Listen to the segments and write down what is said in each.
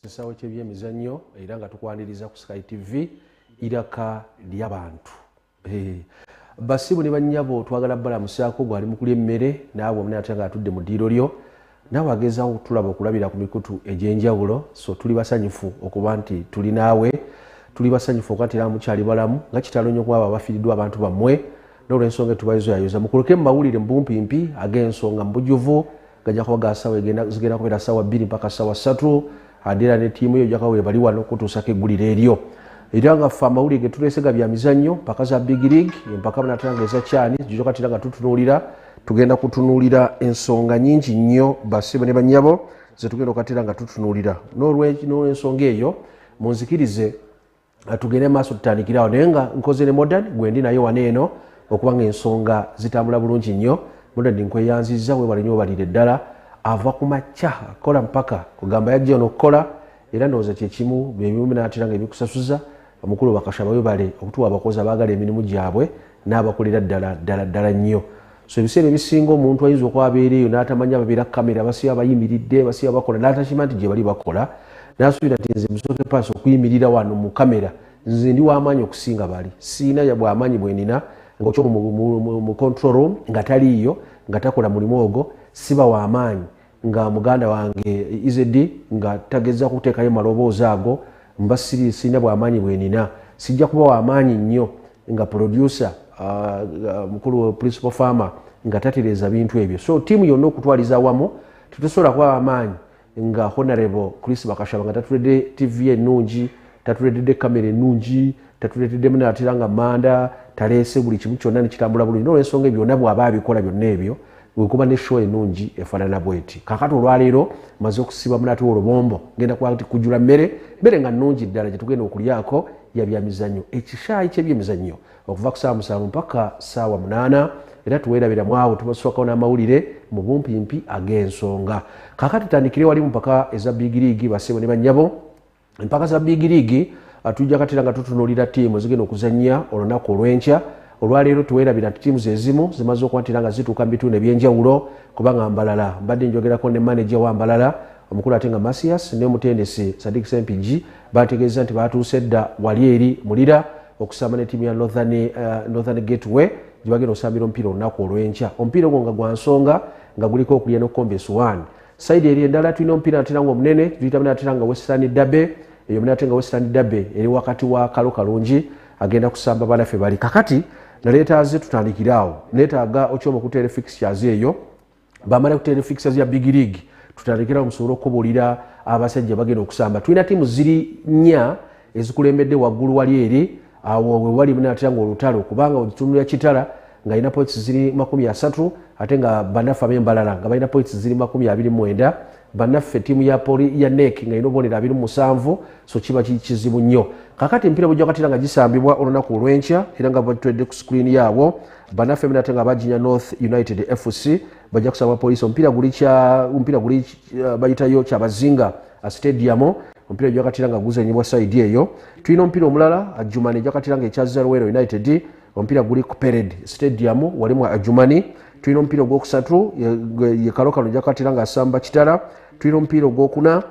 kisawo kyebyemizannyo era nga tukwaniriza ku sky tv iraka lyabantu eh, basibu ne banyabo twagala balamusaako gwali mukuli emmere naawe omuna atya nga atudde mu ddiiro lyo naawe agezawo okutulaba okulabira ku mikutu egy'enjawulo so tuli basanyufu okuba nti tuli naawe tuli basanyufu okuba nti era mukyali balamu nga kitalo nnyo kuba abo abafiiriddwa abantu bammwe nolwensonga etubayizo yayoza mukuluke mumawulire mubumpimpi agensonga mubujuvu gajja kuba gasawa zigenda kubeera sawa bbiri mpaka sawa satu adira ne tiimu yo jakawa webali wano okutuusako eggulire eryo era nga ffe amawulire getuleesega bya mizannyo mpaka za big league empaka banatera nga eza kyani zijoka tira nga tutunuulira tugenda kutunuulira ensonga nyingi nnyo basibo ne banyabo zetugenda okatera nga tutunuulira nolwensonga eyo munzikirize tugende maaso tutandikire awo naye nga nkoze ne modern gwendi naye wana eno okuba nga ensonga zitambula bulungi nnyo modern nkweyanziza webale nyo obalire ddala ava ku makya kola mpaka kugamba yajja ono okukola era ndowooza kyekimu byebimuminatera nga ebikusasuza omukulu bakasha bawebale okutuwa abakozi abaagala emirimu gyabwe n'abakolera ddala ddala ddala nnyo so ebiseera ebisinga omuntu ayinza okuba abeera eyo n'atamanya babeera kamera basiba bayimiridde basiba bakola n'atakima nti gye bali bakola n'asuubira nti nze musooke paasi okuyimirira wano mu kamera nze ndi w'amaanyi okusinga bali siina bw'amaanyi bwenina ngaokyo mu control room nga taliiyo nga takola mulimu ogwo siba w'amaanyi nga muganda wange izedi e nga tageza kuteekayo maloboozi ago mba siri sirina bwamaanyi bwenina sijja kuba wamaanyi nnyo nga producer uh, uh, mukulu principal farmer nga tatereeza bintu ebyo so tiimu yonna okutwaliza awamu tetusobola kuba wamaanyi nga honorable chris bakashaba nga tatuledde tv ennungi tatuleetedde kamera ennungi tatuleeteddemu natera nga manda taleese buli kimu kyonna nekitambula bulungi nolwensonga ebyo byonna bwaba abikola byonna ebyo wekuba ne show enungi efanana bweti kakati olwaleero maze okusiba munati wolubombo ngenda kwati kujula mmere mmere nga nungi ddala gyetugenda okulyako yabyamizanyo ekishaayi kyebyemizanyo okuva ku saawa musanvu mpaka saawa munaana era tuwerabira mwawo tubaswakao n'amawulire mu bumpimpi ag'ensonga kakati tutandikire wali mu mpaka eza bigiriigi basebo ne banyabo empaka za big league ah, tujja katera nga tutunulira tiimu zigenda okuzannya olunaku olw'enkya olwaleero tuwerabira nti tiimu zezimu zimaze okubatira nga zituuka mu bitundu ebyenjawulo kubanga mbalala mbadde njogerako ne maneja wa mbalala omukulu ate nga masias ne omutendesi sadik sempigi bategeeza nti batuuse dda wali eri mulira okusamba ne tiimu ya northern, uh, northern gateway gyebagenda okusambira omupiira olunaku olwenkya omupiira ogwo nga gwa nsonga nga guliko okulya nokukomba esuwaani saidi eri endala tulina omupiira natera nga omunene tuyitamu natera nga western dabe eyo munate nga western dabe eri wakati wa kalo kalungi agenda kusamba banafe bali kakati naleetaze tutandikire awo neetaaga okyoma okuteera fixtures eyo bamala kuteera fixtures ya big league tutandikirawo musobole okukubuulira abasajja bagenda okusamba tulina tiimu ziri nnya ezikulembedde waggulu wali eri awo we wali munaatera nga olutalo kubanga ogitunulira kitala ng'alina points ziri makumi asatu ate nga bannaffe ab'embalala nga balina points ziri makumi abiri mwenda bannaffe ttiimu ya poli ya nek nga erina obubonero abiri musanvu so kiba kikizibu nnyo kakati empiira bujja katira nga gisambibwa olunaku olw'enkya era nga batwedde ku sikuriini yaabwo bannaffe minate nga baginya north united fc bajja kusamba poliisi omupiira guli uh, bayitayo kyabazinga uh, stadium omupiira ejakatira nga guzanyibwa saidi eyo tulina omupiira omulala ajumani ejakatira nga ekyazalwero united omupiira guli ku pered stadium wali mu ajumani tulina omupiira ogwokusatu yekalokano ejakatira nga asamba kitala tulina omupiira ogwokuna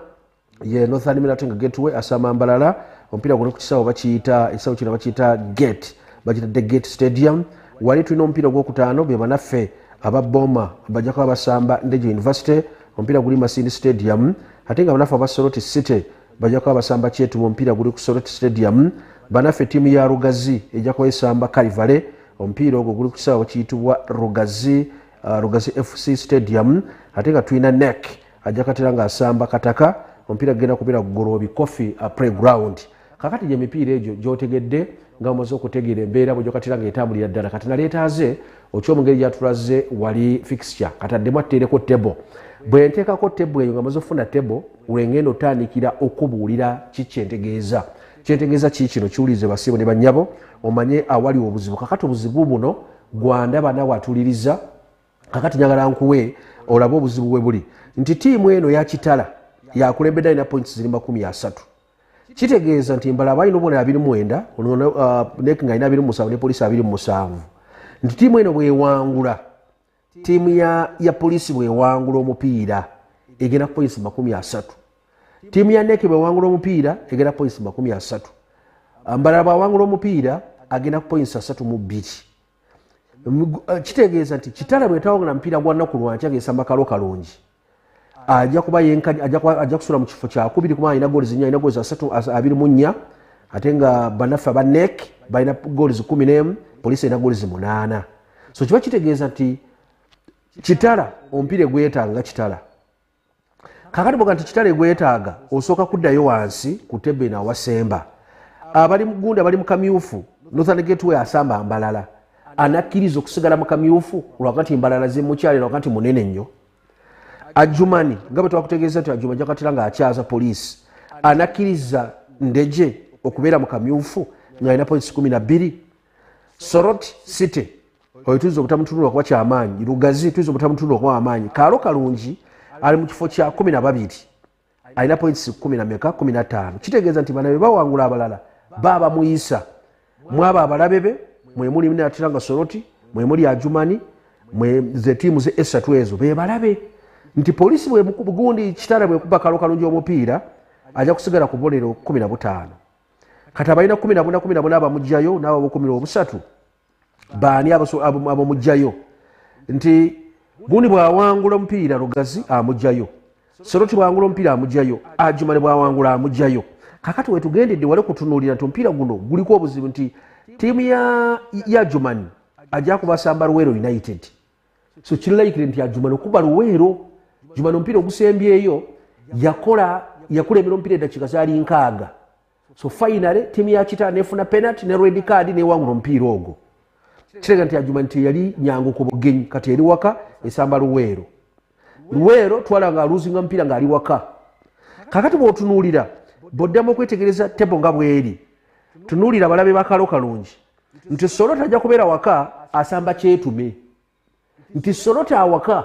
ye northern milating gateway asamba mbalala omupiira guli ku kisawo bakiyita ekisawo kino bakiyita gate bakiyita the gate stadium wali tulina omupiira ogwokutaano bebanaffe aba boma bajja kuba basamba ndege university omupiira guli masindi stadium ate nga banafe aba soroti city bajja kuba basamba kyetuba omupiira guli ku soroti stadium banafe tiimu ya rugazi ejja kuba esamba kalivale omupiira ogwo guli kusaawa kiyitibwa rugazi uh, rugazi fc stadium ate nga tulina nek ajja katera nga asamba kataka omupiira gugenda kubeera gugoloobi coffee uh, playground kakati gye mipiira egyo gyotegedde nga omaze okutegeera embeera bwegyokatira nga etambulira ddala kati naleetaaze otya omungeri gyatulaze wali fixture kati addemu atteereko tebo bwe nteekako tebo eyo nga maze okufuna tebo lwengenda otandikira okubuulira kikyentegeeza kyentegeeza kii kino kiwulirize basiibo ne bannyabo omanye awali obuzibu kakati obuzibu buno gwandaba nawe atuliriza kakati njagala nkuwe olabe obuzibu bwe buli nti tiimu eno yakitala yakulembedde alina points ziri makumi asatu kitegeeza nti mbala abalina obubonero abiri mwenda uh, nek nga alina abiri musanvu ne poliisi abiri musanvu nti tiimu eno bwewangula tiimu ya, ya poliisi bwewangula omupiira egenda kupoinsi makumi asatu tiimu ya nek bwewangula omupiira egenda kupoinsi makumi asatu uh, mbalala bwawangula omupiira agenda kupoinsi asatu mu bbiri uh, kitegeeza nti kitala bwetawangula mupiira gwa nnaku lwankya gesamba kalo kalungi ajja kuba yenkani ajja kusula mu kifo kyakubiri kuba alina gooli zinya alina gooli zasatu abiri mu nnya ate nga banaffe aba nek balina gooli zikumi n'emu poliisi erina gooli zimunaana so kiba kitegeeza nti kitala omupiira egwetaaga nga kitala kakati boga nti kitala egwetaaga osooka kuddayo wansi ku tebbe nawasemba abali mugunda bali mukamyufu northern gateway asamba mbalala anakkiriza okusigala mukamyufu lwakati mbalala zimukyalira wakati munene nnyo ajumani nga bwe twakutegeeza nti ajuma jakatira nga akyaza poliisi anakkiriza ndeje okubeera mu kamyufu ng'alina points kumi na bbiri sorot city oyo tuyinza obutamutunula kuba kyamaanyi lugazi tuyinza obutamutunula kuba wamaanyi kaalo kalungi ali mu kifo kya kumi na babiri alina points kumi nameka kumi nataano kitegeeza nti bana bebawangula abalala baaba muyisa mwaba abalabe be mwemuli natiranga soroti mwemuli ajumani ze tiimu ze esatu ezo bebalabe nti polisi bwegundi kitala bwekuba kalo kalungi omupiira aja kusigala ku bolero kumi na butaano kati abalina kumi nabuna kumi nabuna abamugjayo naababukumira obusatu baani abamugjayo nti gundi bwawangula omupiira lugazi amugjayo seroti bwawangula omupiira amugjayo ajumane bwawangula amugjayo kakati wetugendedde wali kutunulira nti omupiira guno guliko obuzibu nti tiimu ya jumani ajja kubasamba luweero united so kirilaikire nti ajumani okuba luweero jumani omupiira ogusembyeyo yakola yakulembera omupiira eddakiika zaali nkaaga so finally tiimu ya kitala nefuna penalty ne red card newangula omupiira ogwo kirega nti ajuma nti yali nyangu ku bugenyi kati eri waka esamba luweero luweero twala nga aluzinga mupiira ngaali waka kakati bwotunuulira bwoddamu okwetegereza tebo nga bweri tunuulira balabe bakalo kalungi nti solo tajja kubeera waka asamba kyetume nti solota awaka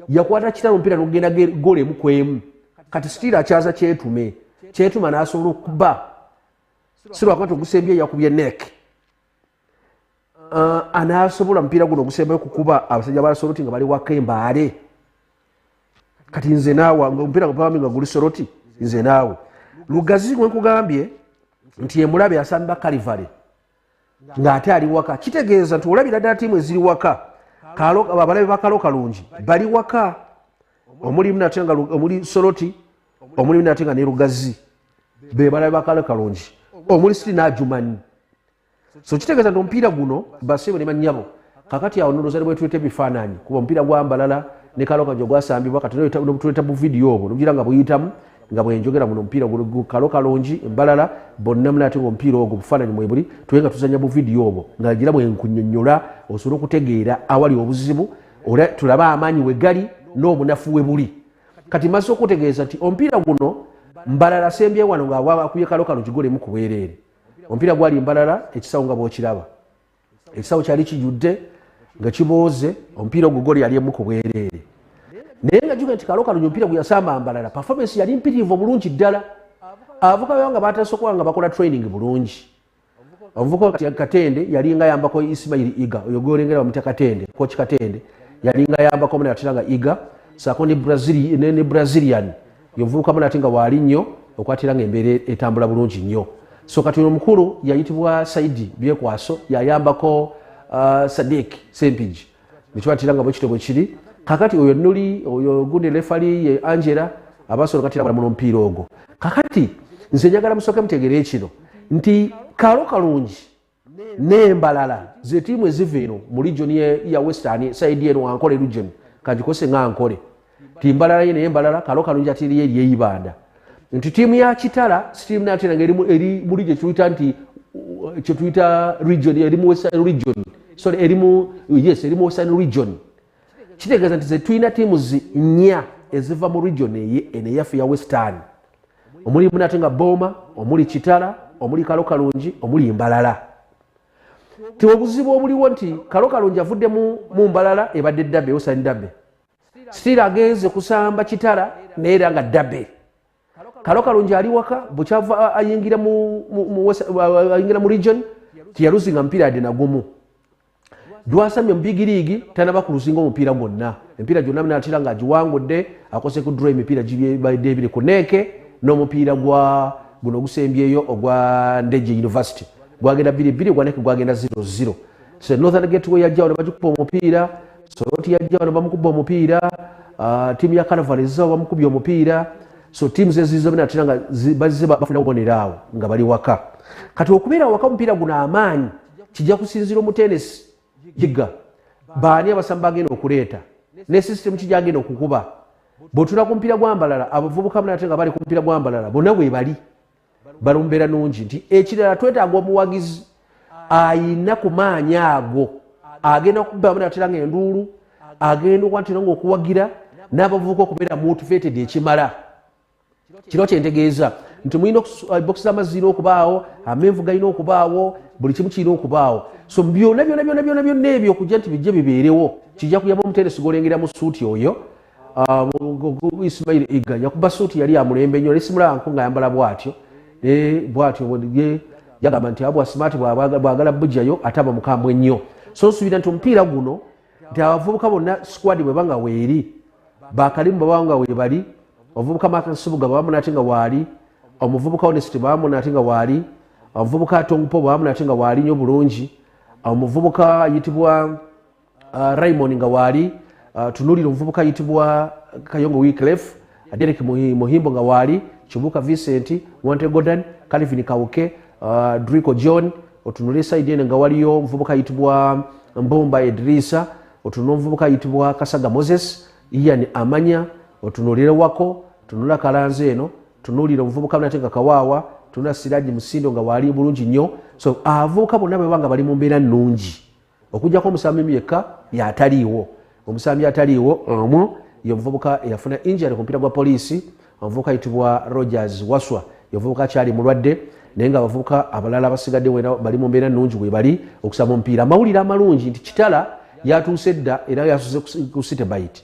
yakwata kitala omupiira nokugenda gola emu kwemu kati sitiira akyaza kyetume kyetuma nasobola okuba sirwakati ogusembye yakubye nek uh, anasobola mupiira guno ogusembayo kukuba abasajja balasoloti nga bali waka embaale kati nze naawe omupiira gwami nga guli soloti nze naawe lugazi wenkugambye nti emulabe asamba kalivale ng'ate ali waka kitegeeza nti olabira ddala tiimu eziri waka abalabe bakalo kalungi bali waka omulimu nate nga omuli soloti omulimu nate nga ne lugazi be balabe bakalo kalungi omuli siri n'ajumanyi so kitegeeza nti omupiira guno baseebo ne banyabo kakati awo noloza nebwetuleta ebifaananyi kuba omupiira gwambalala ne kalokanjo gwasambibwa kati tuleta buvidiyo obwo nogira nga buyitamu nga bwenjogera muno omupiira kalo kalungi embalala bonna muna ate nga omupiira ogwo bufaananyi mwebuli tuwe nga tuzanya buvidiyo obwo nga gira bwenkunyonyola osobole okutegeera awali obuzibu ola tulabe amaanyi wegali n'obunafu we buli kati mazze okutegeeza nti omupiira guno mbalala sembye wano ngaawakuye kalo kalungi golemu kubwereere omupiira gwali mbalala ekisawo nga bwokiraba ekisawo kyali kijudde nga kibooze omupiira ogwo goli yali emu ku bwereere naye nga juga nti kaloka lunyo omupiira guyasamba mbalala performance yali mpitirivu obulungi ddala abavuka beo nga batasokola nga bakola training bulungi omuvuka katende yalinga yambako ismail iga oyo gwolengera bamutya katende koki katende yalinga yambako muna yatera nga iga sako ne brazilian yovubukamu nate nga waali nnyo okwatira nga embeera etambula bulungi nnyo so kati omukulu yayitibwa saidi byekwaso yayambako uh, sadik sempigi nekibatira nga bwekito bwekiri kakati oyo nuli oyo gundi lefali ye angela abasobola kati balamuno mupiira ogwo kakati nze njagala musooke mutegeere ekino nti kaalo kalungi nembalala zetiimu eziva eno mu region ya western saidi eno ankole region kagikose nga nkole timbalala ye naye mbalala kalo kalungi atiriyo eri eyibanda nti tiimu ya kitala sitiimu nate nange eri muli gyetuyita nti kyetuyita region eri mu western region sorry eri mu yes eri mu western region kitegeeza nti zetulina tiimu nnya eziva mu region eye eno eyaffe ya western omuli munate nga booma omuli kitala omuli kalo kalungi omuli mbalala ti obuzibu obuliwo nti kalo kalungi avudde mu mbalala ebadde dabe osan dabe sitiira agenze kusamba kitala naye era nga dabe kalo kalungi ali waka bukyava ayingira mu region teyaluzinga mupiira yadde nagumu lwasamye mubigiriigi tanaba kuluzinga omupiira gwonna emipiira gyonna natera nga agiwangudde akose ku dro emipiira gibadde ebiri ku neeke n'omupiira gwa guno ogusembyeyo ogwa ndeje university gwagenda biri biri gwaneke gwagenda 00 so northern gateway yajjawo nebagikuba omupiira soroti yajja wano bamukubba omupiira ah, tiimu ya kanaval ezizawo bamukubye omupiira so tiimu zeziza bina atera nga bazize bafuna kubonera awo nga bali waka kati okubeera waka omupiira guno amaanyi kijja kusinzira omutenesi yiga baani abasamu bagenda okuleeta ne sisitemu kijja agenda okukuba bwetula ku mupiira gwambalala abavubuka bna ate nga bali ku mupiira gwambalala bonna bwebali balumbera nungi nti ekirala twetaaga omuwagizi ayina ku maanyi ago agenda okubamu natera nga enduulu agenda okwatera nga okuwagira n'abavubuka okubeera mutuvetede ekimala kiro kyentegeeza nti mulina eh, bokisi z'amazzi zirina okubaawo amenvu galina okubaawo buli kimu kirina okubaawo so byona byona byona byona byona ebyo okujja nti bijje bibeerewo kijja kuyamba omuteresi golengera mu suuti oyo Ah, ismail iga yakuba suuti yali amulembe nyo nesimulaanko nga yambala bwatyo bwatyo yagamba nti abwa smart bwagala bujayo ate aba mukambwe nnyo so nsuubira nti omupiira guno nti abavubuka bonna squad bweba nga weeri bakalimu baba nga webali omuvubuka makasubuga babamu nate nga waali omuvubuka honest babamu nate nga waali omuvubuka tongpo babamu nate nga waali nyo bulungi omuvubuka ayitibwa uh, raymond nga waali uh, tunulira omuvubuka ayitibwa kayongo wiclef uh, derek muhimbo nga waali kibuka vincent wante godan calvin kawuke uh, drico john otunulira esaidi ene nga waliyo omuvubuka ayitibwa mbumba edrisa otunula omuvubuka ayitibwa kasaga moses ian amanya otunulire wako tunula kalanza eno tunulira omuvubuka nate nga kawaawa tunula siraji musindo nga waali bulungi nnyo so avubuka bonna bwebanga bali mu mbeera nnungi okujjako omusambimu yekka yataliiwo omusambi ataliiwo omu ye omuvubuka eyafuna injury ku mupiira gwa poliisi omuvubuka ayitibwa rogers waswa yovubuka akyali mulwadde naye nga abavubuka abalala abasigadde wena bali mu mbeera nnungi webali okusaba omupiira amawulire amalungi nti kitala yatuuse dda era yasuze ku sitebait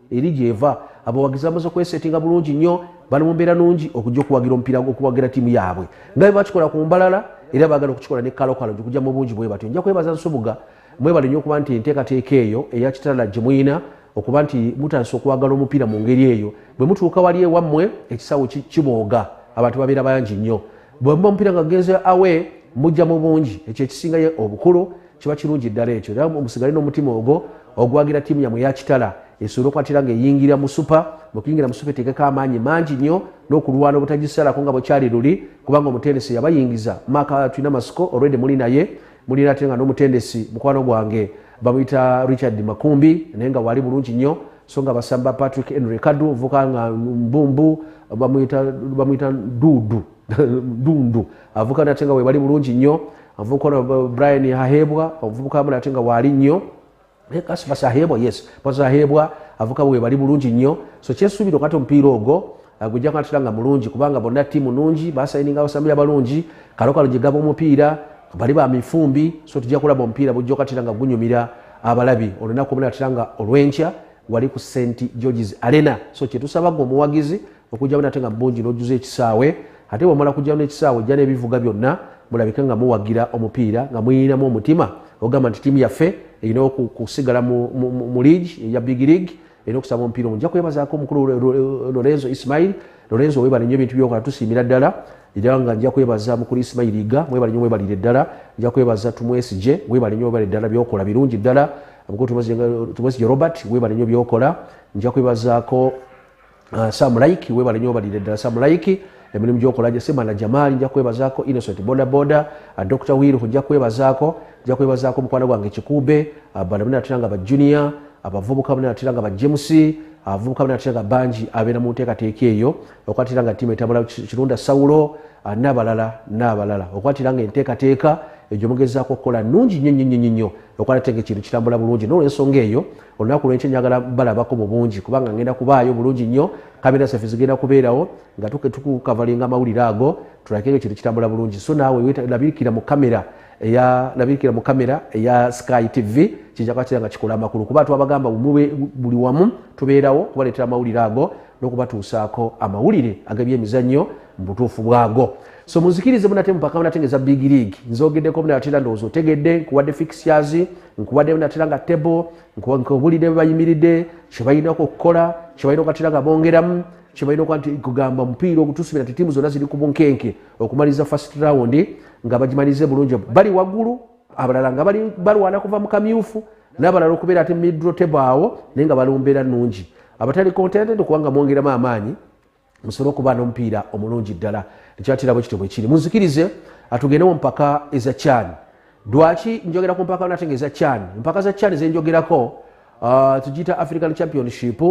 eri gyeva abawagizi bamaze okwesetinga bulungi nnyo bali mu mbeera nungi okujja okuwagira omupiira okuwagira tiimu yaabwe nga bwe bakikola ku mbalala era baagala okukikola ne kalokalo nti okujja mu bungi bwe batyo nja kwebaza nsubuga mwebale nnyo okuba nti enteekateeka eyo eya kitala gye muyina okuba nti mutandisa okwagala omupiira mu ngeri eyo bwe mutuuka wali ewammwe ekisawo kibooga abantu babeera bangi nnyo bwe muba omupiira nga genze awe mujja mu bungi ekyo ekisingayo obukulu kiba kirungi ddala ekyo era ogusigale n'omutima ogwo ogwagira ttiimu yamwe yakitala esobola okwatira nga eyingira mu supa mukuyingira mu supa eteekeko amaanyi mangi nnyo n'okulwana obutagisalako nga bwekyali luli kubanga omutendesi yabayingiza maaka tulina masiko olwede muli naye mulina ate nga n'omutendesi mukwano gwange bamuyita richard makumbi naye nga waali bulungi nnyo so nga basamba patrick henry kadu ovuka nga mbumbu bamuyita dudu dundu avukana ate nga webali bulungi nnyo avukana brian ahebwa ovubuka amala ate nga waali nnyo eh, kasi basahebwa yes basahebwa avuka webali bulungi nnyo so kyesuubira okati omupiira ogwo eh, gujja kunatera nga mulungi kubanga bonna tiimu nungi basayininga abasambi abalungi kalokalo gyegaba omupiira bali ba mifumbi so tujja kulaba omupiira bujja okatera nga gunyumira abalabi olunaku omunaatera nga olwenkya wali ku st georges arena so kyetusabaga omuwagizi okujjamu nate nga mungi n'ojjuza ekisaawe ate bwemala kujjamu n'ekisaawe ojja n'ebivuga byonna mulabike nga muwagira omupiira nga muyinamu omutima ogamba nti tiimu yaffe erina okusigala mu league eya big league era okusaba omupiira omu nja kwebazaako omukulu lorenzo ismail lorenzo webale nyo ebintu byokola tusiimira ddala era nga nja kwebaza mukulu ismail iga mwebale nyo webalire ddala nja kwebaza tumwesije webale nyo webale ddala byokola birungi ddala mukulu tumwesije robert webale nyo byokola nja kwebazaako uh, sam like webale nyo obalire ddala sam like emirimu gyokola gyesemana jamali nja kwebazaako innocent bodaboda uh, dr wilhu nja kwebazaako nja kwebazaako omukwano gwange kikube uh, bana bnatera nga bajunior abavubuka bnatera nga bajemus abavubuka bnatera nga bangi abeera mu nteekateeka eyo okwatira nga tiimu etambula kirunda sawulo uh, nabalala nabalala okwatira nga enteekateeka egyo mugezaako okukola nungi nnyo nnyo nnyo nnyo okwalatenge kintu kitambula bulungi nolwensonga eyo olunaku lwenkyo njagala balabako mu bungi kubanga ngenda kubaayo bulungi nnyo kamera saffe zigenda kubeerawo nga tukukavalinga amawulire ago tulakenge ekintu kitambula bulungi so naawe labikira mu kamera eyalabikira mu kamera eya sky tv kijja kuba kiranga kikola amakulu kuba twabagamba buli wamu tubeerawo kubaleetera amawulire ago n'okubatuusaako amawulire ag'ebyemizannyo mubutuufu bwago so muzikirize munate mupaka munate ngeza big league nzogedeko munatera ndowooza otegedde nkuwadde fixtures nkuwadde munatera nga table nkubulidde bebayimiridde kyebalinako okukola kyebalina okatera nga bongeramu kyebalina okuba nti kugamba omupiira ogutusubira nti tiimu zonna ziri ku bunkenke okumaliza first round nga bagimalize bulungi bali waggulu abalala nga bali balwana kuva mu kamyufu nabalala okubeera ate midro table awo naye nga balumbeera nungi abatali contented kubanga mwongeramu amaanyi musobole okuba nomupiira omulungi ddala ekyatira bwe kityo bwe kiri munzikirize atugende mu mpaka eza kyani lwaki njogera ku mpaka nate nga eza kyani empaka za kyani zenjogerako uh, tugiyita african championship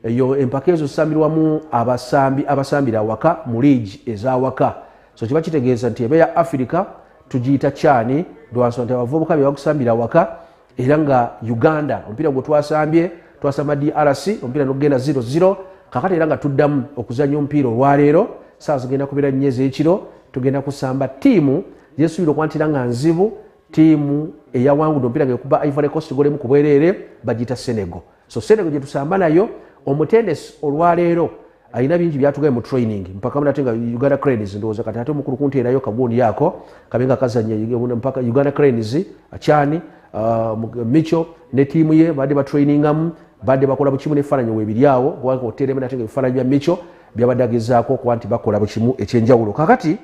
eyo empaka ezo zisambirwamu abasambi abasambira awaka mu liigi ezawaka so kiba kitegeeza nti ebe ya afirika tugiyita kyani lwansonga nti abavubuka bye bagusambira awaka era nga uganda omupiira gwe twasambye twasamba drc omupiira nogenda 00 kakati era nga tuddamu okuzanya omupiira olwaleero saawa zigenda kubeera nnyo ezekiro tugenda kusamba tiimu zesuubira okwantira nga nzibu tiimu eyawangudde omupiira ngaekuba ivory cost golemu ku bwereere bagiyita senegal so senego gyetusamba nayo omutendesi olwaleero alina bingi byatugaye mu training mpaka munate nga uganda cranes ndowooza kati ate omukulu kunteerayo kagundi yako kabe nga kazanya mpaka uganda cranes akyani uh, micho ne tiimu ye badde batrainingamu badde bakola bukimu nebifaananyi webiri awo kubanga oteeremu nate nga ebifaananyi bya micho byabadde agezaako okuba nti bakola bukimu ekyenjawulo kakati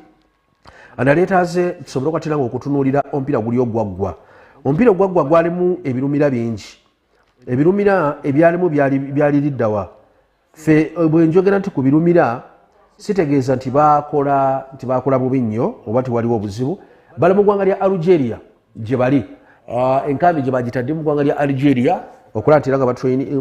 analeeta ze tusobole okwatiranga okutunuulira omupiira guli ogwaggwa omupiira ogwaggwa gwalimu ebirumira bingi ebirumira ebyalimu byali liddawa fe eh, bwenjogera nti ku birumira sitegeeza nti bakola nti bakola bubi nnyo oba tiwaliwo obuzibu bali mu ggwanga lya algeria gye bali ah, enkambi gye bagitadde mu ggwanga lya algeria okulaba nti era nga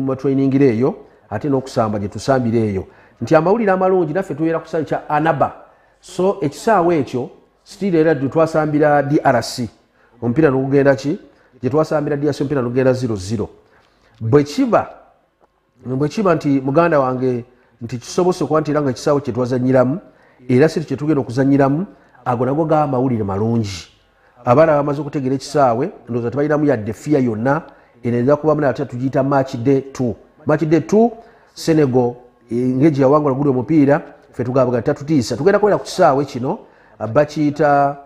batrainingira eh, eyo ate n'okusamba gye tusambira eyo nti amawulire amalungi naffe tubeera ku kisaawe kya anaba so ekisaawe ekyo still era twasambira drc omupiira nogugenda ki gyetwasambira drc omupiira nogugenda 00 bwekiba bwekiba nti muganda wange nti kisobose okuba nti era nga ekisaawo kyetwazanyiramu era siri kyetugenda okuzanyiramu ago nago ga mawulire malungi abaana bamaze okutegeera ekisaawe ndowooza tebalinamu yadde fiya yonna eno eza kubamu nate tugiyita match day t match day t senegal ngeji yawangula guli omupiira fe tugabga tatutiisa tugenda kubera ku kisaawe kino bakiyita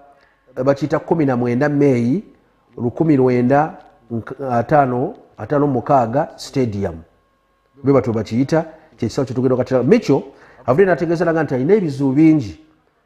bakiyita kumi na mwenda meeyi lukumi lwenda atano atano mukaaga stadium bwe batyo bakiyita kyekisaawe kyetugenda okatira micho avudde nategeeza naga nti alina ebizibu bingi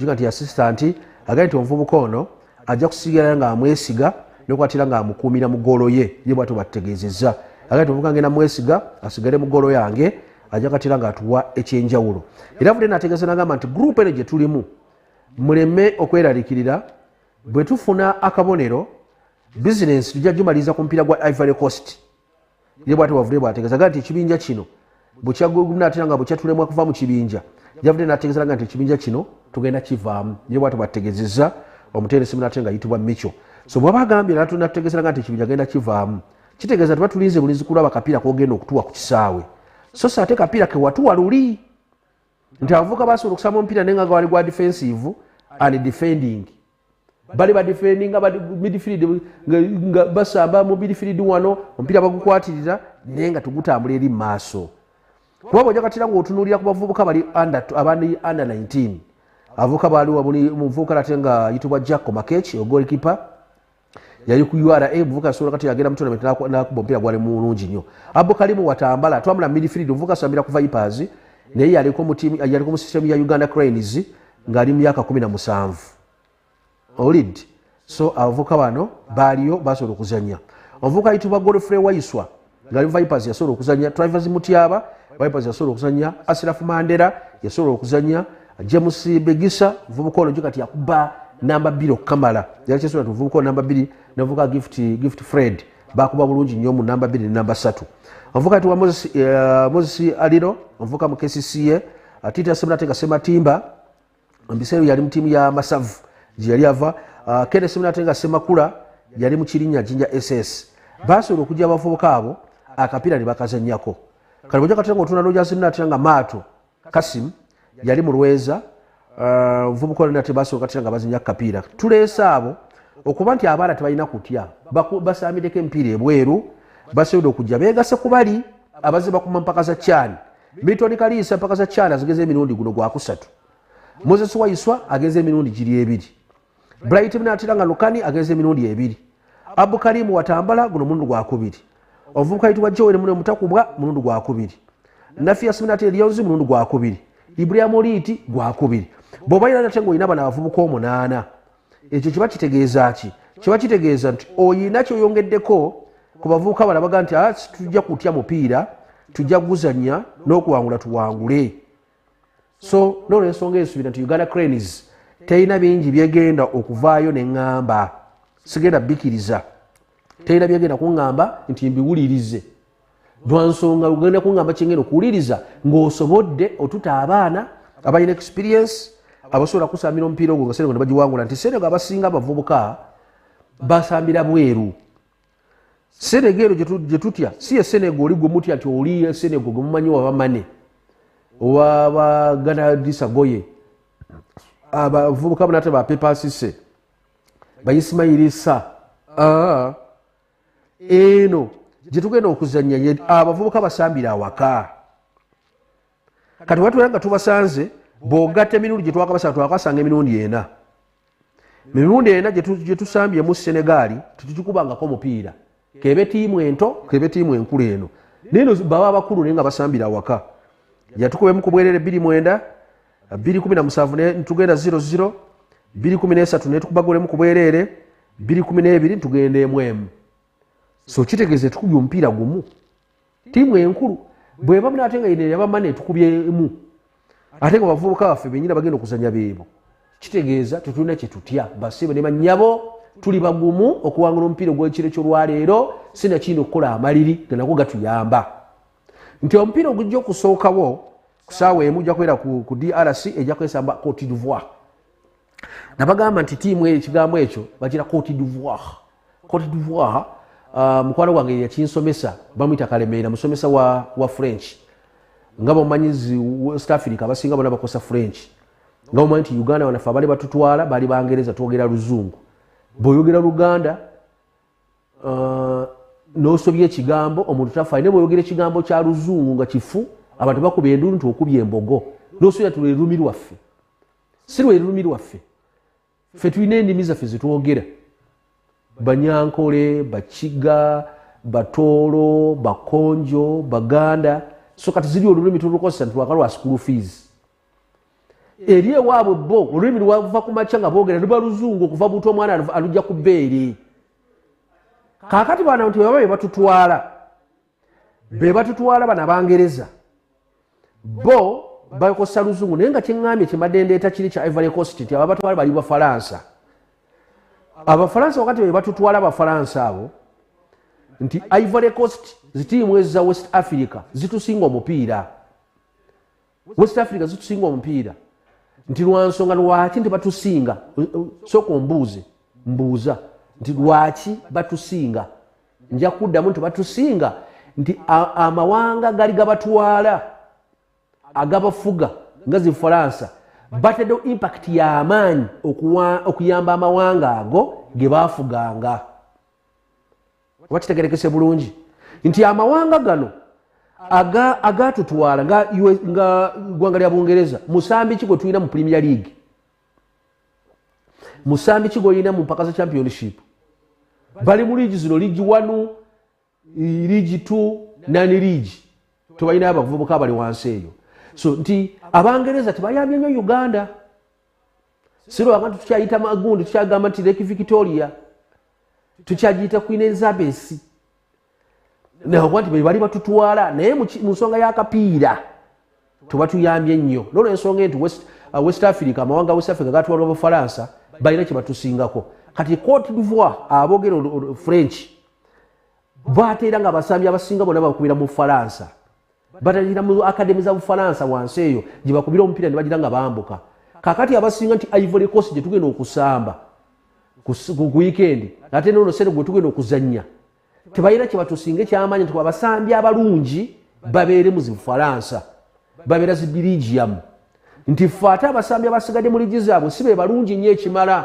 juga nti yasisita nti agambye nti omuvubuka ono ajja kusigala nga amwesiga nokwatira nga amukuumira mugolo ye ye bwatyo batutegeezezza agambye nti omuvubuka ngenda mwesiga asigale mugolo yange ajja katira nga atuwa ekyenjawulo era vudde nategeeza nagamba nti gurupu eno gye tulimu muleme okweralikirira bwe tufuna akabonero bizinensi tujja gimaliriza ku mupiira gwa ivory coast ye bwati wavudde bwategeeza ga nti ekibinja kino bwekyagulumna atera nga bwekyatulemwa kuva mu kibinja yavudde nategeeza nga nti ekibinja kino tugenda kivaamu ye bwati bwategezeza omuteresi munate nga yitibwa mico so bwaba agambye natunategeezera nga nti ekibinja genda kivaamu kitegeeza tuba tulinze bulinzi kulaba kapiira kogenda okutuwa ku kisaawe so sa ate kapiira kewatuwa luli nti abavuka basobola okusama omupiira naye nga gawali gwa defensive and defending bali badifendinga midfield nga basamba mu midfield wano omupiira bagukwatirira naye nga tugutambula eri maaso kuba bwoja katira ngaotunulira ku bavubuka bali abandi under 19 avuka baliwa buli muvubuka nate nga yitibwa jacko makech ogolkipa yali ku ura muvuka asobola kati agenda mutonament nakuba omupiira gwali mulungi nnyo abo kalimu watambala twamula midfield omuvuka asambira ku vipers naye yaliko mu system ya uganda cranes ng'ali mu myaka kumi na musanvu olid so abavuka bano baaliyo basobola okuzanya omuvuka ayitibwa godfrey waiswa ng'ali vipers yasobola okuzanya trivers mutyaba vipers yasobola okuzanya asirafu mandera yasobola okuzanya james begisa muvubuka ono kati yakuba namba bbiri okukamala yali kyesobola ti muvubuka namba bbiri navuka gift, gift fred bakuba bulungi nnyo mu namba bbiri ne namba satu omuvuka ayitibwa moses, uh, moses aliro omuvuka mu kcca atita seminateka sematimba mubiseera yali mu tiimu ya masavu gyeyali ava ah, kene seminateka semakula yali mu kirinya jinja ss basobola okujja abavubuka abo akapiira ne bakazanyako kale oja katera nga otuna lojazinatera nga maato kasim yali mu lweza ah, nvubuka olina tebasobola katera nga bazanya kapiira tuleese abo okuba nti abaana tebalina kutya basamideko emipiira ebweru basobode okujja begase kubali abaze bakuma mpaka za kyani milton kaliisa empaka za china zigeza emirundi guno gwakusatu moses waiswa ageza emirundi giri ebiri bright mnatira nga lukani ageza emirundi ebiri abu kalimu watambala guno mulundi gwakubiri omuvubuka yitibwa joel mune mutakubwa mulundi gwakubiri nafias mnatira lyonzi mulundi gwakubiri ibrahim oliiti gwakubiri bwobaira nate ngaolina bana abavubuka omunaana ekyo kiba kitegeeza ki kiba kitegeeza nti oyina kyoyongeddeko ku bavubuka bala baga nti ah, tujja kutya mupiira tujja kuguzanya n'okuwangula tuwangule so nolwensonga esuubira nti uganda cranes terina bingi byegenda okuvaayo neŋŋamba sigenda bikiriza terina byegenda kuŋŋamba nti mbiwulirize lwansonga ogenda kungamba kyengenda okuwuliriza ngaosobodde otuta abaana abalina experience abasobola kusamira omupiira ogwo nga senegal nebagiwangula nti senegal abasinga abavubuka basambira bweru senega ero gyetutya si esenega oli gwe mutya nti oli esenega gwe mumanyi wabamane owabaganadisa goye abavubuka banate bapepasise baisimairi sa ah. eno gyetugenda okuzanya ye abavubuka basambira awaka kati watubera nga tubasanze bogatta emirundi gyetwakabasanga twakasanga emirundi ena emirundi ena gyetusambyemu senegaali tetukikubangako omupiira kebe tiimu ento kebe tiimu enkulu eno naye no baba abakulu naye nga basambira awaka yatukubemu kubwerere biri mwenda bbiri kumi na musanvu netugenda ziro ziro bbiri kumi nesatu netukubagolemu ku bwereere bbiri kumi n'ebiri ntugenda emu emu so kitegeeza etukubye omupiira gumu tiimu enkulu bweba munaate nga yine yabamana etukubye emu ate nga bavubuka baffe benyina bagenda okuzanya beebo kitegeeza tetulina kyetutya basibe ne banyabo tuli bagumu okuwangula omupiira ogwekiro kyolwaleero sinakiyina okukola amaliri ganako gatuyamba nti omupiira ogujja okusookawo kusaawa emu ojja kubeera ku drc ejja kwesamba cote divoir nabagamba nti tiimu ekigambo ekyo bagira cote divoir cote divoir uh, mukwano gwange yeyakinsomesa bamuyita kalemeera musomesa wa, wa french nga bamanyi west africa abasinga bona bakosa french nga bamanyi nti uganda wanafe abali batutwala bali bangereza twogera luzungu bweoyogera luganda uh, nosobya ekigambo omuntu tafaayo naye bwoyogera ekigambo kya luzungu nga kifu abantu bakuba enduulu nti okuby embogo nosobya ti lwerulumi lwaffe si lwerulumi lwaffe ffe tulina endimi zaffe zetwogera banyankole bakiga batoolo bakonjo baganda so kati ziri olulimi tulukozesa nti lwaka lwa school fees eri ewaabwe bo olulimi lwava ku makya nga boogera luba luzungu okuva buntu omwana alujja ku beere kaakati baana nti baba bebatutwala bebatutwala bana bangereza bo bakosa luzungu naye nga kyeŋŋambye kyemadendeta kiri kya ivory cost nti ababatwala bali bafalansa abafalansa wakati bebatutwala abafalansa abo nti ivory cost zitiimu eza west africa zitusinga omupiira west africa zitusinga omupiira nti lwansonga lwaki nti batusinga soka ombuuze mbuuza nti lwaki batusinga nja kuddamu nti batusinga nti amawanga gali gabatwala agabafuga nga zifalansa bataddewo impact y'amaanyi okuyamba amawanga ago ge baafuganga oba kitegerekese bulungi nti amawanga gano agatutwala nga ggwanga lya bungereza musambi ki gwe tulina mu premier league musambi ki gwolina mu mpaka za championship bali mu liigi zino liigi wanu liigi t nani liigi tebalina abavubuka bali wansi eyo so nti abangereza tebayambye nyo uganda sirwa abantu tukyayita magundi tukyagamba nti lake victoria tukyagiyita queen elizabeth naokuba nti bebali batutwala naye mu nsonga yakapiira tuba tuyambye nnyo nolwo ensonga enti west, uh, west africa amawanga west africa gatwalwa bufalansa balina kyebatusingako kati cote divoir abogera french bateera nga abasambi abasinga bona bakubira mu falansa batandikira mu akademi za bufalansa wansi eyo gye bakubira omupiira ne bagira nga bambuka kakati abasinga nti ivory coast gye tugenda okusamba ku wikendi ate nono sente gwe tugenda okuzannya tebalina kye batusinga ekyamaanyi nti abasambi abalungi babeere mu zibufalansa babeera zi birigiyamu nti fe ate abasambi abasigadde mu ligi zaabwe si be balungi nnyo ekimala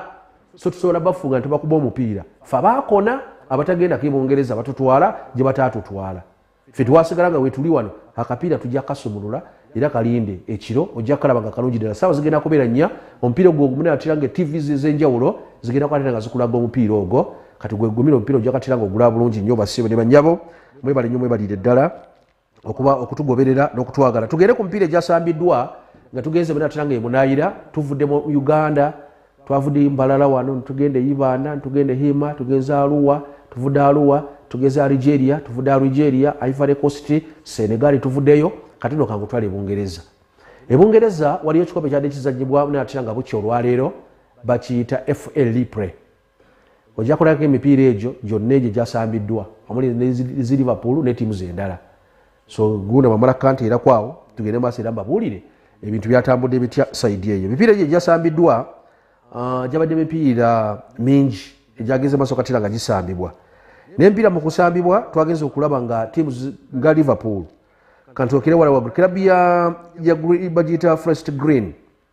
so tusobola bafunga nti bakuba omupiira fe baakona abatagenda kebungereza batutwala gye bataatutwala ffe twasigala nga wetuli wano akapiira tujja kasumulula era kalinde ekiro ojja kukalaba nga kalungi ddala saawa zigenda kubeera nnya omupiira ogwo ogumune atira nga tv z'enjawulo zigenda kwatira nga zikulaga omupiira ogwo kati gwegumira omupiira ojja katira nga ogulaba bulungi nnyo basibe ne banyabo mwebale nnyo mwebalire ddala okuba okutugoberera n'okutwagala tugende ku mipiira egyasambiddwa nga tugenze bena atira nga emunayira tuvudde mu uganda twavudde mbalala wano ntugenda eyibaana ntugenda ehima tugenza aluwa tuvudde aluwa tugeza algeria tuvudde algeria ivory cost senegali tuvuddeyo kati no kangutwala ebungereza ebungereza waliyo ekikopo kyadde kizanyibwa naye atera nga bukya olwaleero bakiyita fa lipre ojja kulagako emipiira egyo gyonna egyo gyasambiddwa omuli ne ziliverpool ne tiimu zendala so guna bamala kanti era kwawo tugende maaso era mbabuulire ebintu byatambudde bitya saidi eyo emipiira egyo egyasambiddwa ah, gyabadde mipiira mingi egyagenze maaso katira nga gisambibwa nempiira mu kusambibwa twagenza okulaba nga tiimu nga liverpool kanti okere wala wagulu kirabu ya bagiyita frest green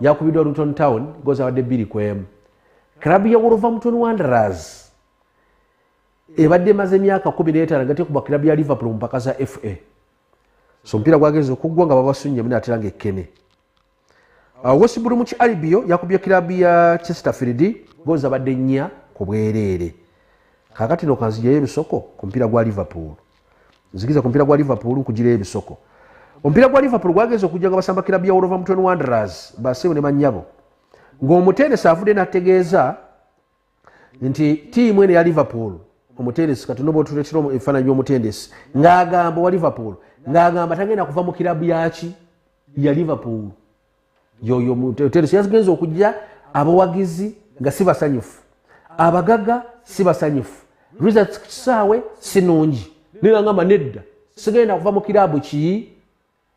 yakubiddwa luton town gozi abadde bbiri ku emu kirabu ya wolverhampton wanderers ebadde emaze emyaka kumi n'etaano nga tekuba kirabu ya liverpool mu mpaka za fa so omupiira gwagenza okuggwa nga babasunyemu naatera nga ekkene uh, wesibulu mu ki alibio yakubye kirabu ya chesterfield gozi abadde nnya ku bwereere kakati nokanzijayo ebisoko ku mupiira gwa liverpool nzikiza ku mpira gwa liverpool kugira ebisoko omupiira gwa liverpool gwagenza okujja nga basamba kirabu ya wolova mutwen wanderers baseewo ne banyabo ng'omutendesi avudde nategeeza nti tiimu eno ya liverpool omutendesi kati noba otuletera ebifaananyi by'omutendesi ng'agamba owa liverpool ng'agamba tagenda kuva mu kirabu yaki ya liverpool yoyo mutereso yazigenza okujja abawagizi nga si basanyufu abagaga si basanyufu results ku kisaawe si nungi nirangamba nedda sigenda kuva mu kirabu ki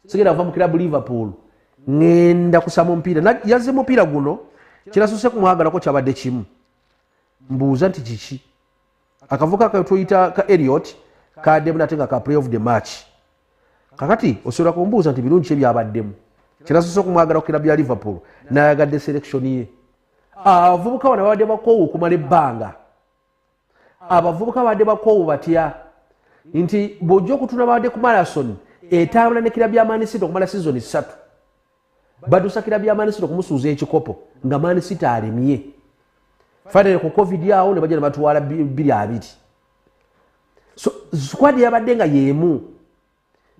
sigenda kuva mu kirabu liverpool ŋenda kusama omupiira yaze mupiira guno kirasuse kumwagalako kyabadde kimu mbuuza nti kiki akavuka katuyita ka eliot kademu nate nga ka play of the match kakati osobola kumbuuza nti birungi kye byabaddemu kyenasoose okumwagala kukira bya liverpool nayagadde selection ye abavubuka bana babadde bakoowu okumala ebbanga abavubuka babadde bakoowu batya nti bwojja okutuna babadde ku marason etambula nekira byamanisiita okumala sizoni ssatu badusakira bya manisita okumusuuza ekikopo nga manisita alemye fanere ku covid awo ne bajja nebatwala biri abiri squad yabadde nga yemu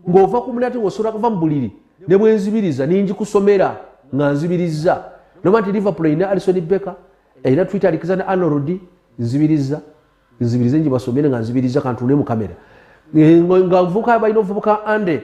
ng'ova ku munati ng'osobola kuva mu buliri ne bwenzibiriza ninjikusomera nga nzibiriza noba nti liverpool erina alison becker erina twitter alikiza ne anordi nzibiriza nzibirize njibasomere nga nzibiriza kantuune mu kamera nga nvuka balina ovubuka ande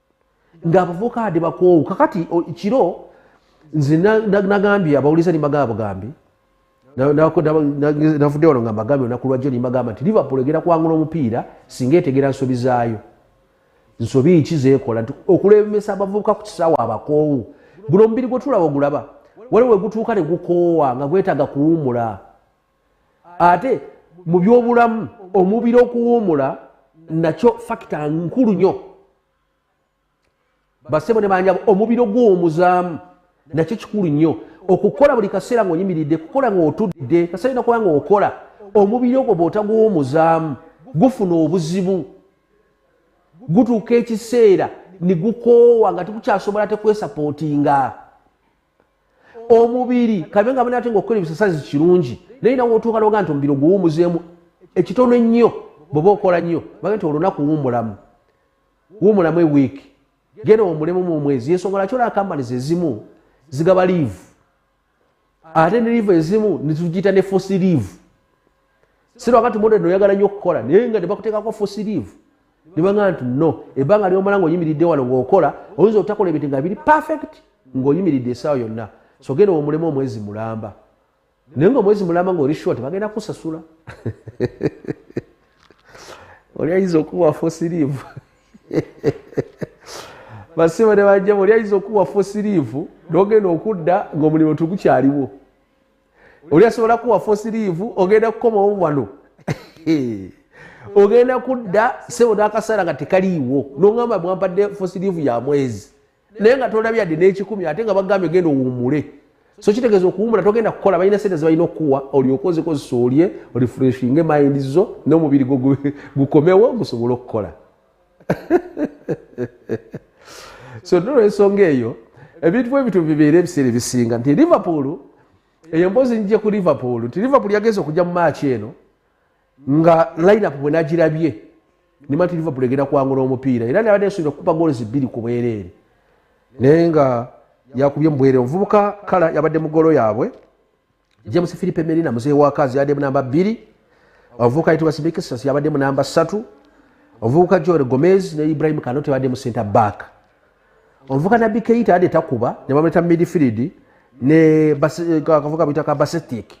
ng'abavubuka ade bakoowu kakati kiro nze nagambye abawuliza nimbagaa bugambi navudde wano nga mbagambye olunaku lwajjo nimbagamba nti liverpool egenda kuwangula omupiira singa etegera nsobi zaayo nsobi ki zekola nti okulembesa abavubuka ku kisaawa abakoowu guno omubiri gwetulaba ogulaba waliwo wegutuuka ne gukoowa nga gwetaaga kuwumula ate mu byobulamu omubiri okuwuumula nakyo fakita nkulu nnyo basebo ne banjabo omubiri ogwowumuzaamu nakyo kikulu nnyo okukola buli kaseera ngaoyimiridde kukola ngaotudde kaseera olina kuba ngaokola omubiri ogwo bwotagwowumuzaamu gufuna obuzibu gutuuka ekiseera nigukoowa nga tikukyasobola tekwesapootinga omubiri kabe nga banaate nga okukola ebisasazi kirungi naye nawe otuuka noga nti omubiri oguwumuzeemu ekitono ennyo bweoba okola nnyo bage nti olunaku wuumulamu wuumulamu ewiiki genda omulemu mu omwezi yensonga laki olaba kampanies ezimu zigaba liivu ate ne liivu ezimu netugiyita ne fosi liivu sirwanga nti modern oyagala nnyo okukola naye nga nebakuteekako fosiriivu nebanga nti no ebbanga lyomala ngaoyimiridde wano ngaokola oyinza otakola ebintu nga biri perfect ngaoyimiridde esaawa yonna sogenda omulemu omwezi mulamba naye nga omwezi mulamba nga oli short bagenda kusasula oli ayinza okuwa fosiriivu basiba ne bajjamu oli ayinza okuwa fosiriivu nogenda okudda ngaomulimu tugukyaliwo oli asobola kuwa fosiriivu ogenda kukomawo wano ogenda kudda sebo nakaseera nga tekaliiwo nogamba bwampadde fosiriivu ya mwezi naye nga tolabye adde n'ekikumi ate nga bagambye genda owummule so kitegeeza okuwumula togenda kukola balina sente zebalina okukuwa olyoka ozikozesa olye olifreshinge mayindi zo n'omubiri gwo gukomewo gusobole okukola so nolwensonga eyo ebintu bwebityo bibeera ebiseera ebisinga nti liverpool eyo mbozi njije ku liverpool nti liverpool yagenza okujja mu maaki eno nga lineup bwenagirabye nima nti liverpool egenda kwangula omupiira era nabadde nsuubira okukuba goolo zibbiri ku bwereere naye nga yakubye mubwere omuvubuka kala yabadde mugolo yaabwe james philipe merina muzeeyi wa kazi yabadde munamba bbiri omuvubuka yitibwa simikisas yabadde munamba ssatu omuvubuka joel gomez ne ibrahim kano tebadde mu center back omuvubuka nabbi keita yadde takuba ne bamuleta mu midfield ne eh, kavuka buyita ka basetic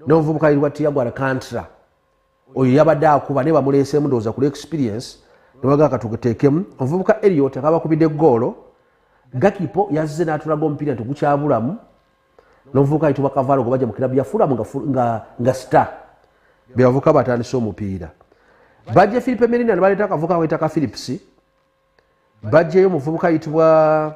n'omuvubuka yitibwa tiagwal kantra oyo yabadde akuba naye bamuleeseemu ndowooza ku lwexperience nebagaa katugeteekemu omuvubuka eliot nga bakubidde goolo gakipo yazze n'atulaga omupiira nti gukyabulamu nomuvubuka ayitibwa kavaalo gwe bajja mu kirabu yafulamu nga star bebavuka batandise omupiira bajje philipe merina nebaleeta akavuka wetaka philips bajjeyo omuvubuka ayitibwa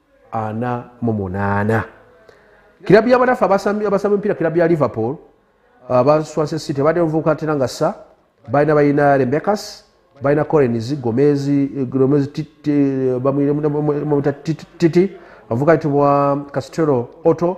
ana mu munaana kirabu yabanafe abasamba emipiira kirabu ya liverpool abaswanse uh, city abadde muvubuka atera nga sa balina balina rebekas balina corens gomezi titi abavubuka yitibwa castelo otto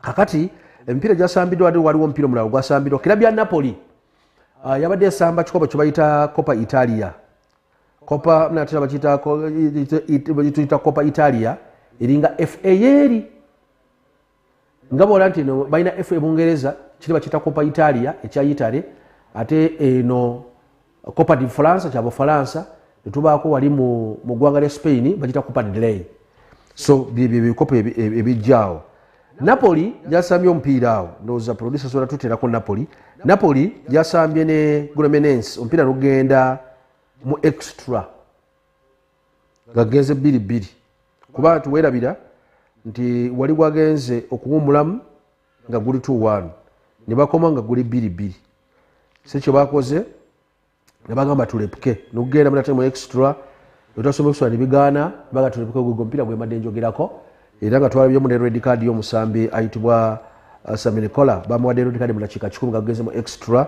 kakati emipiira gyasambiddwa wade waliwo omupiira omulala ogwasambiddwa kirabu ya napoli uh, yabadde esamba kikopo kyebayita copa italia copa natera bakiyita copa italia eringa fa yeeri nga bola nti no balina fa ebungereza kiri bakiyita copa italia ekya itale ate eno eh, copa di fransa kya bufalansa netubaako wali mu ggwanga lya spain bagita copa delay so byebyo ebikopo ebijjaawo napoli yasambye omupiira awo ndowooza producer sobola tuterako napoli napoli yasambye ne gromenens omupiira nogenda mu extra nga genze bbiri bbiri kuba tuwerabira nti wali wagenze okuwumulamu nga guli t1 ne bakoma nga guli bbiri bbiri si kyo bakoze ne bagamba tulepuke nokugenda munate mu extra notasoma okusula ne bigaana baga tulepuke gwegwo omupiira gwemadde njogerako era nga twalabyemu ne red card y'omusambi ayitibwa uh, saminikola bamuwadde red card mu dakiika kikumi nga gugeze mu extra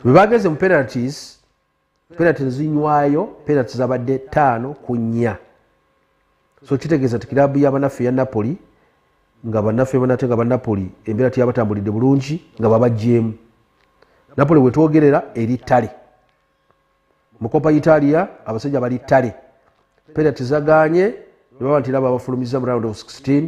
bwe bageze mu penalties penati nzinywayo penati zabadde taano ku nnya so kitegeeza ti kiraabu ya banaffe ya napoli nga banaffe banate nga banapoli embeera teyabatambulidde bulungi nga babajjeemu napoli wetwogerera eri ttale mukopa italia abasajja bali ttale penati zaganye nebaba nti laba abafulumiza mu round of 16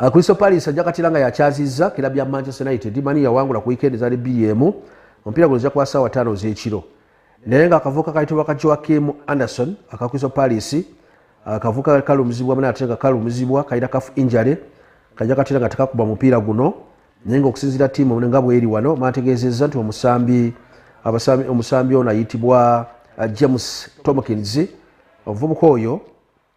Uh, Crystal Palace ajja katira nga yakyazizza kira bya Manchester United mani yawangula ku weekend zali bbiri emu omupiira guno kwa ssaawa ttaano z'ekiro naye nga akavuka kayitibwa ka Joakim Anderson aka Crystal Palace akavuka uh, kalumizibwa mani ate nga kalumizibwa kalina kafu injury kajja katira nga tekakuba mupiira guno naye nga okusinziira ttiimu nga bweri wano maategeezezza nti omusambi omusambi ono ayitibwa uh, James Tomkins omuvubuka oyo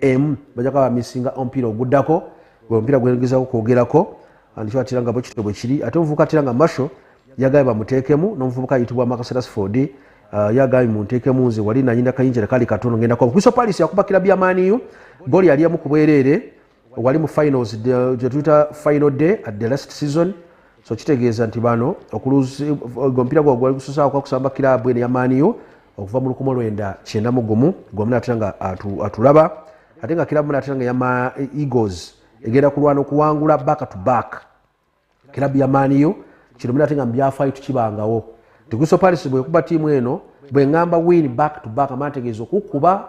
emu bajja kuba bamisinga omupiira oguddako gwe omupiira gwengezako kwogerako andikyo atira nga bwekityo bwe kiri ate omuvubuka atira nga masho yagambye bamuteekemu n'omuvubuka ayitibwa makaserasford uh, yagambye munteekemu nze wali nanyina kayinjira kali katono ngenda kwa kristo palis yakubakira byamaaniyo goli yali emu ku bwereere wali mu finals uh, gyetuyita final day at the last season so kitegeeza nti bano omupiira gwa gwali gususaako kwakusamba kiraabu eno yamaaniyo okuva mu lukumi olwenda kyenda mu gumu gwamu natera nga atulaba ate nga kiraabu natera nga yama eagles egenda kulwana okuwangula back to back kiraabu yamaaniyo kino mina ate nga mubyafaayo tukibangawo tiguso paris bwekuba tiimu eno bwengamba win back to back amana tegeeza okukuba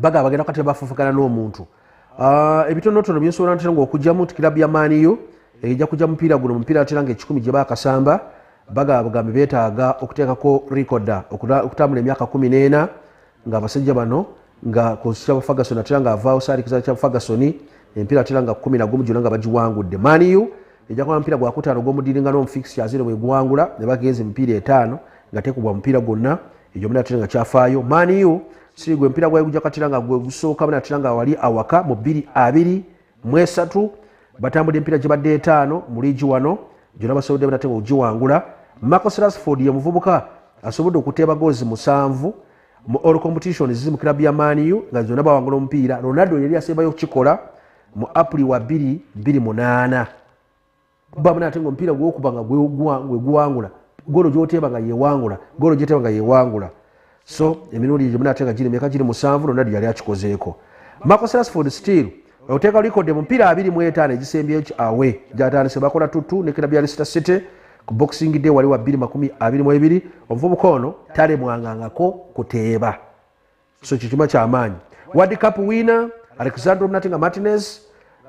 bagaba bagenda kati bafufukana n'omuntu ah, ebitonotono byensobola ntera nga okugyamu nti kilabu ya maaniyo ejja kugya mupiira guno mupiira atera nga ekikumi gye bakasamba bagaba bugambi betaaga okuteekako rikoda okutambula emyaka kumi n'ena nga abasajja bano nga konsita bafagasoni atera nga avaawo saalikiza kya fagasoni empiira atera nga kumi nagumu gyona nga bagiwangudde maaniyo ejakuba mupiira gwakutaano gw'omudiringana omu fixtures eno bwegwangula ne bagenza emipiira etaano nga tekubwa mupiira gwonna egyo muna tera nga kyafaayo maniu siri gwe mupiira gwayo gujja katira nga gwe gusooka muna tera nga wali awaka mu bbiri abiri mu esatu batambudde emipiira gibadde etaano mu liigi wano gyona basobodde muna tera okugiwangula marcus rasford ye muvubuka asobodde okuteeba goozi musanvu mu all competitions ziri mu kirabu ya maniu nga zonna bawangula omupiira ronaldo yali asembayo okukikola mu apuli wa 228 bamu nate ngaomupiira gwokuba nga gweguwangula golo gyoteeba nga yewangula golo gyoteeba nga yewangula so emirundi gyo munate nga girimeka giri musanvu nonna lyeyali akikozeeko marcos rasford steel oteeka likode mupiira abiri mu etaano egisembyeyo ki awe gyatandise bakola tutu ne kirabu ya lisita city ku boxing day wali wa 222 omuvubuka ono talemwangangako kuteeba so kyo kima kyamaanyi wad cup wina alexandro mnatinga martinez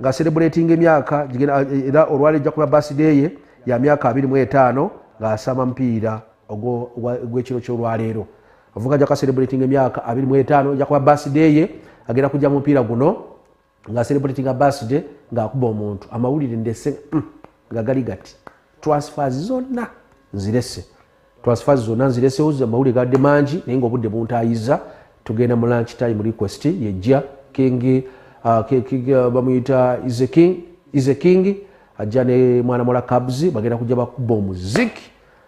nga celebrating emyaka eh, era olwali ejja kuba basideye ya myaka abiri mu etaano ng'asama mupiira ogwekiro kyolwaleero avuga ajja kuba celebrating emyaka abiri mu etaano ejja kuba basideye agenda kujja mu mupiira guno nga celebratinga birthday ng'akuba omuntu amawulire ndese mm, nga gali gati transfers zonna nzirese transfers zonna nziresewo amawulire gadde mangi naye ngaobudde buntayiza tugenda mu lunch time request yejja king uh, uh, bamuyita ize king ajja ne mwana mola cabs bagenda kujja bakuba omuziki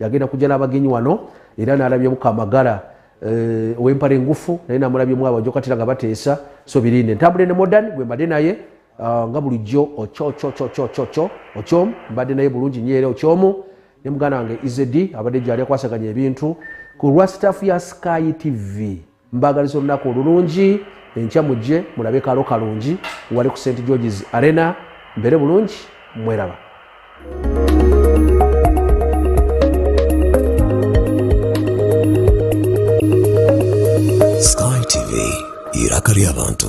yagenda kujala abagenyi wano era nalabyemu kamagala eh, owempala engufu naye namulabyemu abajokatira nga bateesa so birinde ntambule ne modern gwe mbadde naye ah, nga bulijjo ococococococo ocom mbadde naye bulungi nyo era ocyomu ne muganda wange izedi abadde gyali akwasaganya ebintu ku lwa staff ya sky tv mbagaliza olunaku olulungi enkya mujje mulabe kalo kalungi wali ku st georges arena mbere bulungi mweraba sky tv iraka ly'abantu